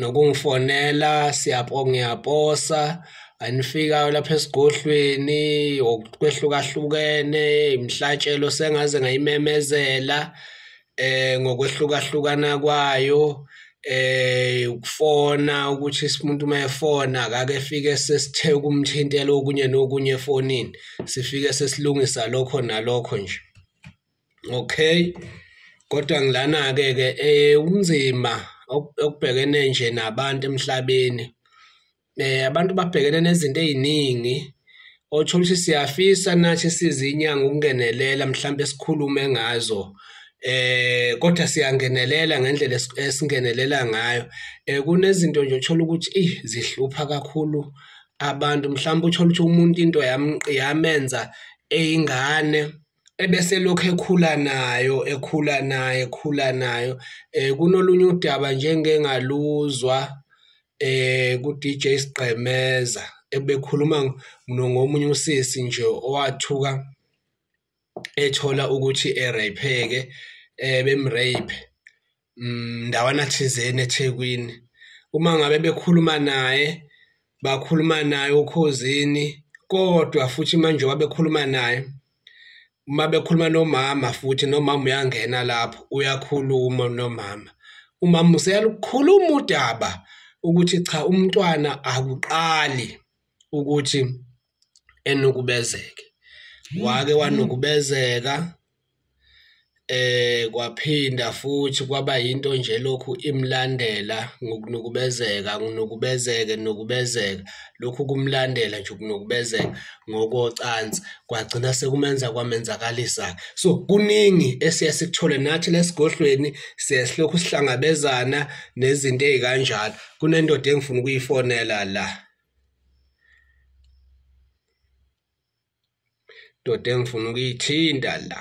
nokungifonela siyapho ngiyaposa anifikayo lapha esigodlweni okwehlukahlukene imhlatshelo sengaze ngayimemezela eh ngokwehlukahlukana kwayo eh ukufona ukuthi umuntu uma efona akake fike sesithe ukumthintela okunye nokunye efonini sifike sesilungisa lokho nalokho nje okay kodwa ngilana-ke ke eh kunzima okubhekene nje nabantu emhlabeni eh abantu babhekene nezinto eziningi othola ukuthi siyafisa nathi sizinyanga ukungenelela mhlawumbe sikhulume ngazo eh kodwa siyangenelela ngendlela esingenelela ngayo eh kunezinto nje uthola ukuthi eh zihlupha kakhulu abantu mhlawumbe uthola ukuthi umuntu into yamenza eyingane ebeselokhu ekhula nayo ekhula nayo ekhula nayo eh kunolunye udaba nje engengaluzwa eh ku DJ Sigqemeza ebekhuluma ngomunye usisi nje owathuka ethola ukuthi erapheke eh bemrape mm, ndawana thizeni ethekwini uma ngabe bekhuluma naye bakhuluma naye ukhozini kodwa futhi manje wabekhuluma naye uma bekhuluma nomama futhi nomama uyangena lapho uyakhuluma nomama umama useyalukhuluma udaba ukuthi cha umntwana akuqali ukuthi enukubezeke wake wanukubezeka eh kwaphinda futhi kwaba into nje lokhu imlandela ngokunukubezeka nginukubezeke nokubezeka lokhu kumlandela nje ukunukubezeka ngokocansi kwagcina sekumenza kwamenzakalisa so kuningi esiya sikuthole nathi lesigodlweni siyasilokhu sihlangabezana nezinto ezikanjalo kunendoda engifuna ukuyifonela la ndoda engifuna ukuyithinta la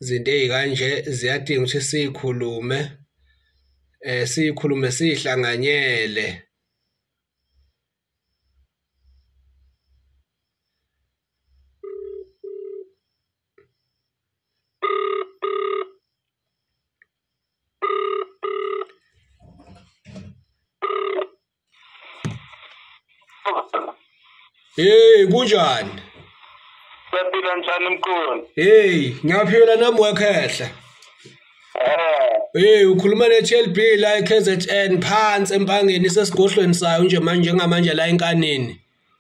izinto ey'kanje ziyadinga ukuthi siyikhulume um siyikhulume siyihlanganyele Hey kunjani? Siyaphila njani mkhulu? Hey, ngiyaphila nami wekhehla. Eh. Hey, ukhuluma ne TLB la eKZN phansi empangeni sesigohlweni sayo nje manje njengamanje la enkanini.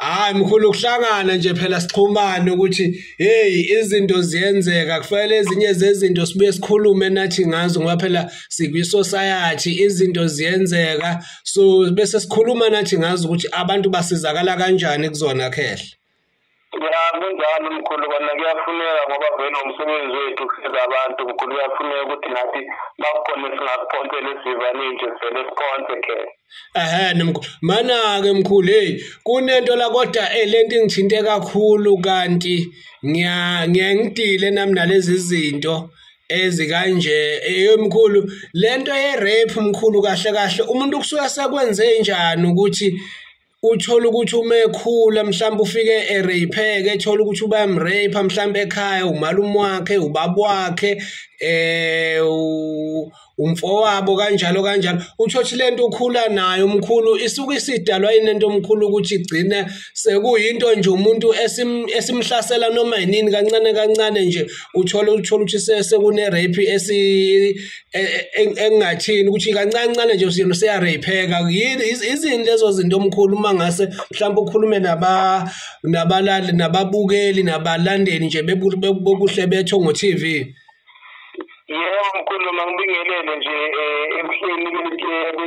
Hayi mkhulu ukuhlangana nje phela sixhumane ukuthi hey izinto ziyenzeka kufanele ezinye zezinto sibuye sikhulume nathi ngazo ngoba phela sikwi society izinto ziyenzeka so bese sikhuluma nathi ngazo ukuthi abantu basizakala kanjani kuzona khehla Ya kunjalo mkhulu kona kuyafuneka ngoba vele umsebenzi wethu kusiza abantu mkhulu kuyafuneka ukuthi nathi bakukhona singakuphonsela esivaneni nje vele siphonse khehla Ehhe nomkhulu manake mkhulu hey kunento la kodwa eh, lento ingithinte kakhulu kanti ngiya ngiyangidile nami nalezi zinto ezikanje eyomkhulu eh, lento ye rape mkhulu kahle kahle umuntu kusuka sekwenze njani ukuthi uthole ukuthi uma ekhula mhlawumbe ufike ereypheke ethole ukuthi ubayamreypha mhlawumbe ekhaya umalume wakhe ubaba wakhe eh umfowabo kanjalo kanjalo uthothi lento ukhula nayo umkhulu isuke isidalwa inento omkhulu ukuthi igcine sekuyinto nje umuntu esimhlasela noma yinini kancane kancane nje uthole uthola ukuthi sekune rape esi e, e, engingathini ukuthi kancancane nje usiyena seyareypheka yini izini lezo zinto omkhulu uma ngase mhlawumbe ukhulume nabalali nababukeli nabalandeli nje bokuhle betho ngo-tv yebo mkhulu mangibingelele nje um ebuhleni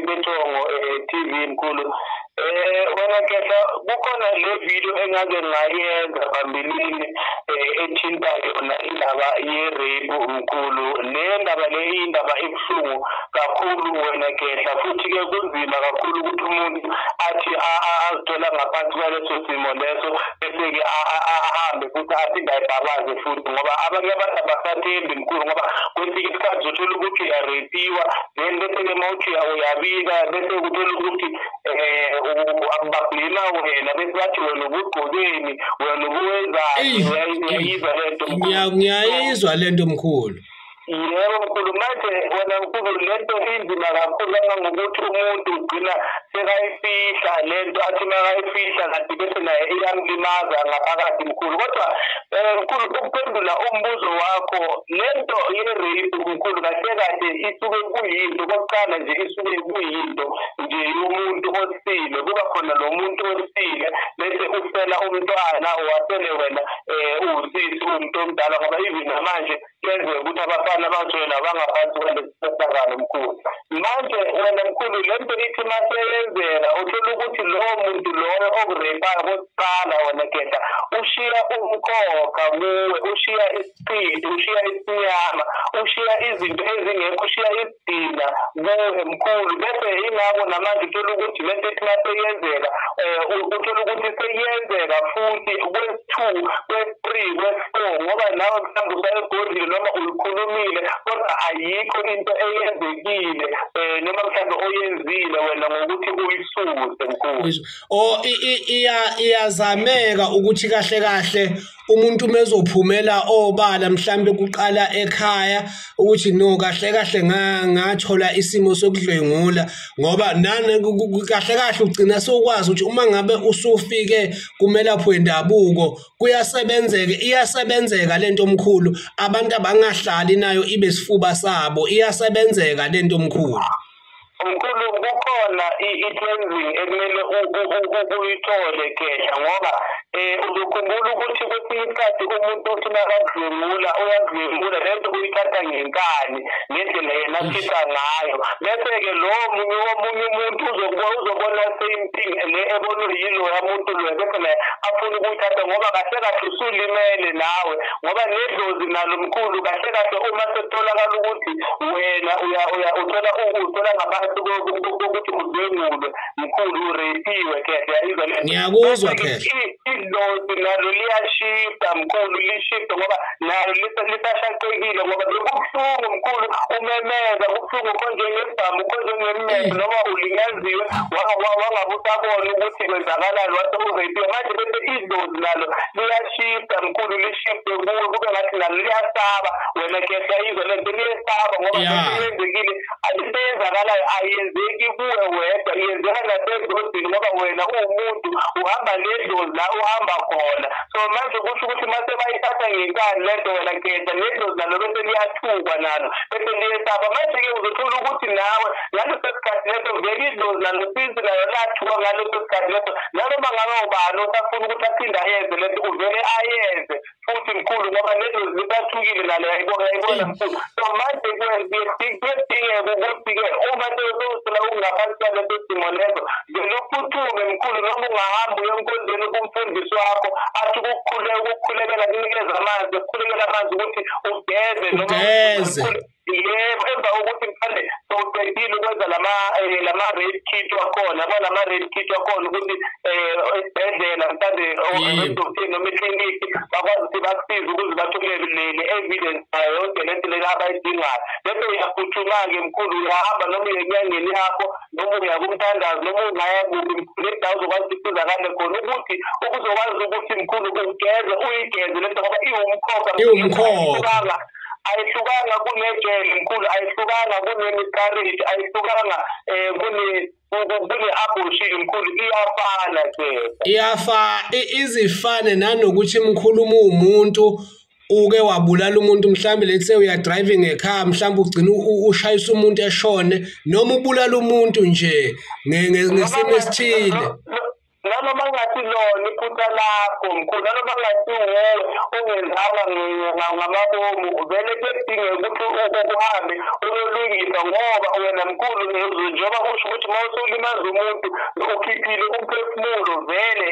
bethongo um eh, tv mkhulu Eh wena kehla kukhona le video engake ngayenza phambilini eh, ethinta yona indaba ye-rape mkhulu le ndaba le indaba ebuhlungu kakhulu wena kehla futhi-ke kunzima kakhulu ukuthi umuntu athi azithola ngaphansi kwaleso simo leso bese-ke ahambe futhi aphinde ayibhabaze futhi ngoba abanye abantu abasathembi mkhulu ngoba kwesinye isikhathi zothola ukuthi uyarepiwa then bese-ke mawuthi uyabika bese kuthola ukuthi um babhema wena bese bathi wena ubugqokeni wena ubuwenzani uyayizwa le nto ngiyayizwa le nto mkhulu yebo mkhulu manje wena mkhulu le nto inzima kakhulu kangangokuthi umuntu ugcina sekayifihla le nto athi makayifihla kanti bese naye iyamlimaza ngaphakathi mkhulu kodwa um mkhulu ukuphendula umbuzo wakho le nto ye-rape mkhulu kahle kahle isuke kuyinto kokuqala nje isuke kuyinto nje yomuntu osile kuba khona lo muntu osile bese usela umntwana wasele wena um uwusisi uwumuntu omdala ngoba even namanje kuyenzeka ukuthi abafana abangcwele abangaphansi kwalesisehlakalo mkhulu manje wena mkhulu le nto ithi maseyenzeka uthola ukuthi lowo muntu loyo okurepayo kokuqala wena geda ushiya umkhokha kuwe ushiya isipili ushiya isinyama ushiya izinto ezingekho ushiya isidina kuwe mkhulu bese ingako namanje uthola ukuthi le nto ithi maseyenzeka um uthola ukuthi seyenzeka futhi kwesi-two kwesi-three kwesi-four ngoba nawe mhlawumbe usayegodlile noma uyikhulumile kodwa ayikho into eyenzekile um noma mhlawumbe oyenzile wena ngokuthi uyisuse mkhulu o iyazameka ukuthi kahle kahle umuntu uma ezophumela obala mhlawumbe kuqala ekhaya ukuthi no kahle kahle ngathola isimo sokudlwengula ngoba nane kahle kahle ugcina sokwazi ukuthi uma ngabe usufike kumelaphi wendabuko kuyasebenzeka iyasebenzeka lento omkhulu abantu abangahlali nayo ibe sifuba sabo iyasebenzeka lento omkhulu Mkhulu kukhona i-cleansing ekumele uyithole kehla ngoba eh uzokhumbula ukuthi kwesinye isikhathi umuntu uthi nakakudlwengula uyakudlwengula lento uyithatha ngenkani ngendlela yena afisa ngayo bese-ke lo munye omunye umuntu uzobona same thing le ebonwe yiloya muntu loya bese naye afuna ukuyithatha ngoba kahle kahle usulimele nawe ngoba nedlozi nalo mkhulu kahle kahle uma sekutholakala ukuthi wena uya uya uthola uthola ngaphansi kokuthi udlwengulwe mkhulu urepiwe khehla yayizwa le ngiyakuzwa khehla idlozi nalo liyashisa mkhulu lishisa ngoba nalo lisashaqekile ngoba bekubuhlungu mkhulu umemeza kubuhlungu konje ngebhamu konje ngemmeso mm. noma ulinyaziwe wangabe usabona ukuthi kwenzakalani wase urepiwe manje bese idlozi nalo liyashisa mkhulu lishise kuwe kube ngathi nalo liyasaba wena kehla izwe le nto liyesaba ngoba yenzekile into eyenzakalayo ayenzeki kuwe wedwa yenzeka nasezodini ngoba wena uwumuntu uhamba nedlozi la uhamba khona so manje kusho ukuthi mase bayithatha ngenkani le nto wena kehla nedlozi nalo bese liyathukwa nalo bese liyesaba manje-ke uzothola ukuthi nawe ngaleso sikhathi leso vele idlozi nanosinsi nayo lathuka ngaleso sikhathi leso nanoma ngabe ubani osafuna ukuthi aphinde ayenze lento uvele ayenze futhi mkhulu ngoba nedlozi lisathukile nalo yayibona yayibona mkhulu so manje kuyadingeka ukuthi-ke uma sewusewusela ukungaphansi kwaleso simo leso vele uphuthume mkhulu noma ungahamba uyonkonzeni kumfundisi wakho athi ukukhuleka ukukhulekela kunikeza amanzi ukukhulekela amanzi ukuthi ugeze noma yebo emva kokuthi mhlawumbe sowuqedile ukwenza lama eh, lama red kit wakhona kwalama red kit wakhona ukuthi eh, esibhedlela mhlawumbe odokotela noma ekliniki bakwazi ukuthi bakusize ukuze bathumele leli evidence nayo yonke le nto lena abayidingayo bese uyaphuthuma-ke mkhulu uyahamba noma uye enyangeni yakho noma uya kumthandazi noma ungaya kuphi mkhulu endawo uzokwazi ukuthi usizakale khona ukuthi ukuzokwazi ukuthi mkhulu ugeze uyigeze le nto ngoba iwumkhokha iwumkhokha ayihlukanga kunegel mkhulu ayihlukanga kunemiscarriage ayihlukanga eh kune kune abortion mkhulu iyafana ke iyafa izifane nanokuthi mkhulu umuntu uke wabulala umuntu mhlawumbe let's say uya driving ekhaya mhlawumbe ugcina ushayisa umuntu eshone noma ubulala umuntu nje ngesimo esithile nanoma ngathi lona iphutha lakho mkhulu nanoma ngathi wuwe ungenzanga ngamabomu vele kuyadingeka ukuthi ukuhambe uyolungisa ngoba wena mkhulu njengoba kusho ukuthi uma usulimaza umuntu ukhiphile umphefumulo vele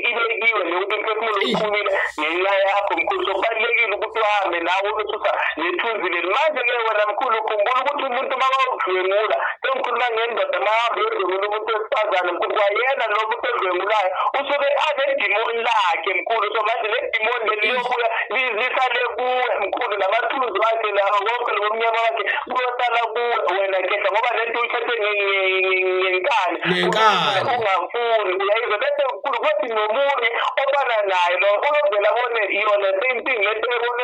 ibekiwe leyo umphefumulo uphumile ngenxa yakho mkhulu so kubalulekile ukuthi uhambe nawe nethunzile manje ke wena mkhulu khumbula ukuthi umuntu makawudlwengula sengikhuluma ngendoda mahambe yodlwengula umuntu wesifazane mkhulu kwayena lo muntu odlwengulayo usuke anedimoni lakhe mkhulu so manje le dimoni leli liyobuya lisale kuwe mkhulu namathunzi wakhe lawo konke lo mnyama wakhe kuyosala kuwe wena kehla ngoba le nto uyithathe ngenkani ungafuni uyayizwa bese mkhulu kuthi nomunye obana naye lo uyovela bone iyona same thing le nto ebone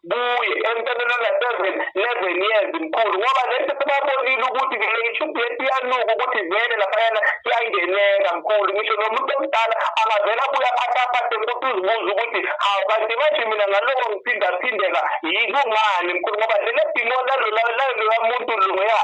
kuye emntaneni ona-seven eleven years mkhulu ngoba lento sebabonile ukuthi ngishubleti iyanuka ukuthi vele laphayana kuyangeneka mkhulu ngisho nomuntu omdala angavele abuye aphathaphathe mkuthi uzibuza ukuthi hawu kanti manje mina ngaloko ngiphindaphindeka yikungani mkhulu ngoba lelo dimo laloya muntu loya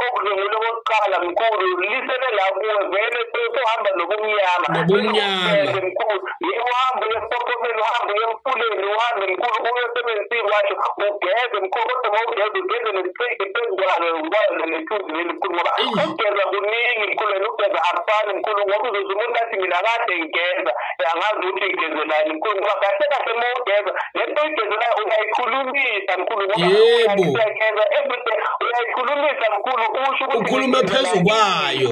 okudlwengule kokuqala mkhulu lisele la kuwe vele sohamba nobumnyama nobumnyama mkhulu yebo uhambe uye esiphophomeni uhambe uye emfuleni uhambe mkhulu uye emsebenzini washo ugeze mkhulu kodwa uma ugeze ugeze nesipeyidi phezu kwalo kwalo nethunzi leli mkhulu ngoba ukugeza kuningi mkhulu wena ugeza akufani mkhulu ngoba uzoze umuntu athi mina kade ngigeza angazi ukuthi ngigezelani mkhulu ngoba kahle kahle uma ugeza le nto oyigezelayo uyayikhulumisa mkhulu ngoba uyageza everyday uyayikhulumisa mkhulu usho ukuthi ukhulume phezu kwayo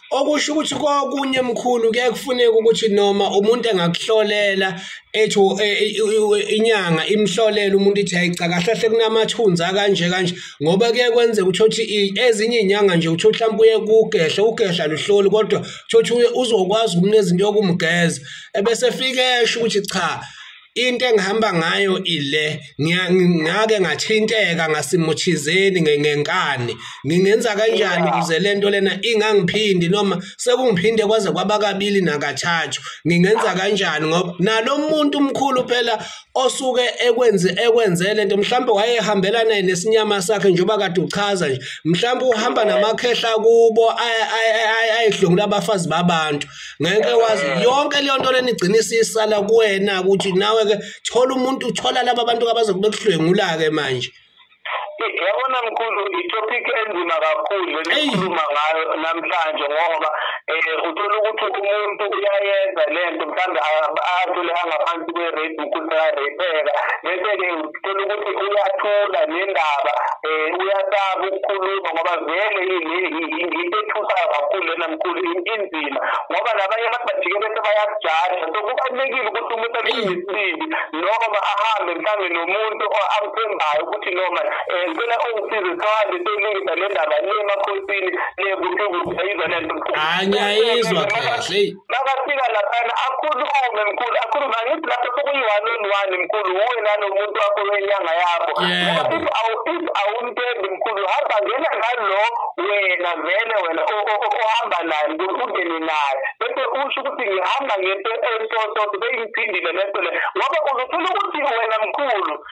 okusho ukuthi kokunye mkhulu kuye kufuneka ukuthi noma umuntu engakuhlolela ethi e, e, e, inyanga imhlolela umuntu ithi hayica kahle hle kunamathunzi akanje kanje ngoba kuye kwenzeka uthothi ezinye inyanga nje uthothi mhlawumbe uye kugehla ugehla luhloli kodwa uthothi uzokwazi ukunezinto yokumgeza ebese fike esho ukuthi cha into engihamba ngayo ile ngiyake ngathinteka ngasimuchizeni ngenkani ngingenza kanjani ukuze lento lena ingangiphindi noma sekungiphinde kwaze kwaba kabili nakathathu ngingenza kanjani ngoba nalomuntu umkhulu phela osuke ekwenze ekwenze lento mhlawumbe wayehambela naye nesinyama sakhe njengoba kade uchaza nje mhlawumbe uhamba namakhehla kubo ayedlungula abafazi babantu ngeke wazi eh. yonke leyo nto lenigcina isisala kuwena ukuthi nawe ke thola umuntu thola laba bantu abazokubekuhlwengula ke manje yabona mkhulu itopic enzima kakhulu lenikhuluma ngayo namhlanje ngoba um uthola ukuthi umuntu uyayenza le nto mhlawumbe athole angaphansi kwe-rape mkhulu sekarapheka bese-ke sithola ukuthi uyathula nendaba um uyasaba ukukhuluma ngoba vele yinto ethusayo kakhulu lena mkhulu inzima ngoba nabanye abantu bajike bese bayakujaja so kubalulekile ukuthi umuntu abe nesibindi noma ahambe mhlawumbe nomuntu amthembayo ukuthi noma um ngicela ungisize sohambe seyilungisa le ndaba le emakhosini le kuphi kuphi ayizwa le nto hayi ngiyayizwa kahle makafika laphana akhulume mkhulu akhulume angithi lapho sekuyi-one on one mkhulu wuwe nalo muntu wakho wenyanga yakho if awumtendi mkhulu hamba ngena ngalo wena vele wena ohamba naye mkhulu ungene naye bese usho ukuthi ngihamba ngento entototo beyiphindile lento le ngoba uzothola ukuthi wena mkhulu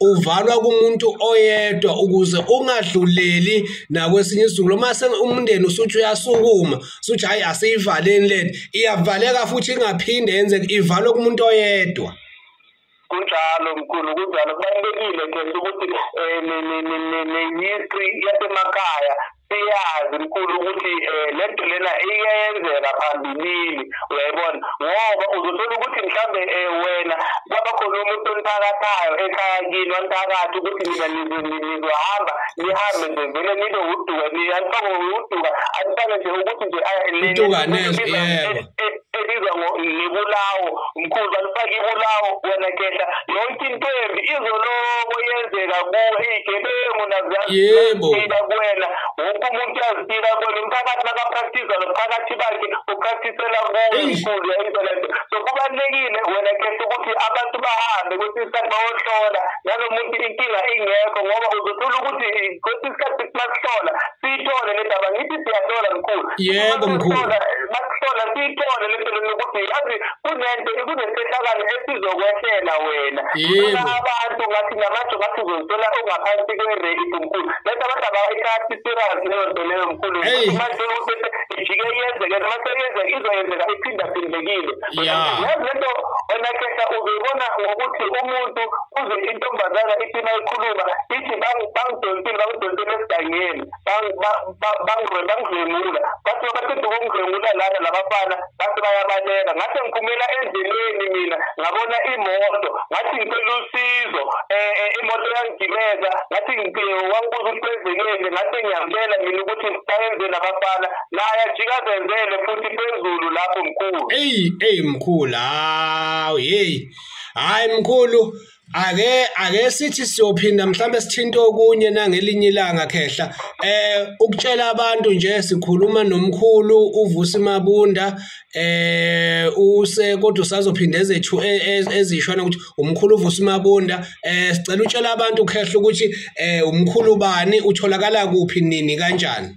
uvalwa kumuntu oyedwa ukuze ungadluleli nakwesinye isizukulo uma umndeni usuthi uyasukuma suthi hhayi asiyivaleni lento iyavaleka futhi ingaphinde yenzeke ivalwe kumuntu oyedwa kunjalo mkhulu kunjalo kubalulekile ke ukuthi um eh, ne-history yasemakhaya siyazi mkhulu ukuthi um le nto lena iyenzeka phambilini uyayibona ngoba uzothola ukuthi mhlawumbe um wena kwaba khona umuntu onithakathayo ekhaya kini wanithakathi ukuthi nina nizohamba nihambe nje vele nibe uduka anifake uduka anifake nje ukuthi nje ebizwa ngebulawo mkhulu balifake ibulawo wena kehla yonke into embi izoloko yenzeka kuwe iyigebengu nazazila kuwena wonke umuntu yazitila kuwena umphakathi makapractiza nomphakathi bakhe upractisela kuwe mkhulu yayinto lento so kubalulekile wena kehla ukuthi abantu bahambe kwesinye isikhathi bayohlola nalo muntu inkinga ingekho ngoba uzothola ukuthi kwesinye isikhathi masihlola siyithole le ndaba ngithi siyahlola mkhulu yebo mkhulu sona siyithole le nto nokuthi yazi kunento kunesehlakalo esizokwehlela wena yena abantu ngathi ngamanje ngathi uzozithola ungaphansi kwe-rate mkhulu bese abantu abayithathi serious leyo nto leyo mkhulu manje ukuthi ijike yenzeke noma seyenzeka izoyenzeka iphindaphindekile yazi le nto wena khehla uzoyibona ngokuthi umuntu uze intombazana ithi mayikhuluma ithi bangidonsile bangidonsile esigangeni bangidlwengula bathi baqeda ukungidlwengula lana labafana bathi bayabaleka ngathi ngiphumela endleleni mina ngabona imoto ngathi ngicela usizo um imoto yangigibeza ngathi wangibuza ukuthi kwenzekele ngathi ngiyambela mina ukuthi bayenzeni abafana naye ajika azenzele futhi phezulu lapho mkhulu eyi eyi mkhulu hawu yeyi hhayi mkhulu ake ake sithi siyophinda mhlawumbe sithinta okunye nangelinye ilanga khehla eh ukutshela abantu nje sikhuluma nomkhulu uvusi mabunda eh use kodwa usazophinda ezethu e, e, ezishona ukuthi umkhulu uvusi mabunda eh sicela utshela abantu khehla ukuthi eh umkhulu bani utholakala kuphi nini kanjani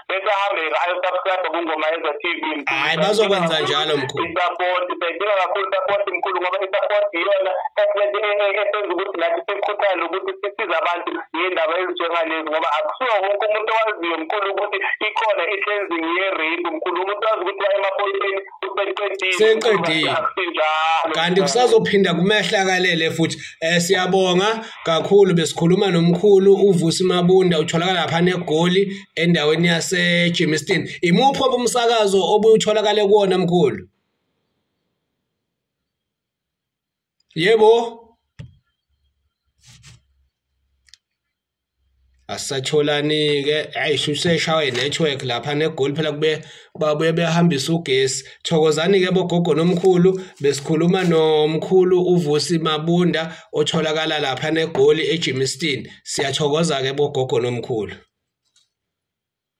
bese ahambe ayosubscribe kungoma yenza TV hayi bazokwenza njalo mkhulu support sayidinga kakhulu support mkhulu ngoba i-support iyona esenza ukuthi nathi sikhuthale ukuthi sisize abantu ngey'ndaba ezinjengalezi ngoba akusiwo wonke umuntu owaziyo mkhulu ukuthi ikhona i-cleansing ye-rape mkhulu umuntu wazi ukuthi waye emaphoyiseni seqedile kanti kusazophinda kumehlakalele futhi um siyabonga kakhulu besikhuluma nomkhulu uvusi mabunda utholakala lapha negoli endaweni yasejimiston imuphi obumsakazo obutholakale kuwona mkhulu yebo asisatholani-ke ayi shuseshawa i-network lapha negoli phela kube babuye behambisa ugesi thokozani-ke bogogo nomkhulu besikhuluma nomkhulu uvusi mabunda otholakala lapha negoli ejimistin siyathokoza-ke bogogo nomkhulu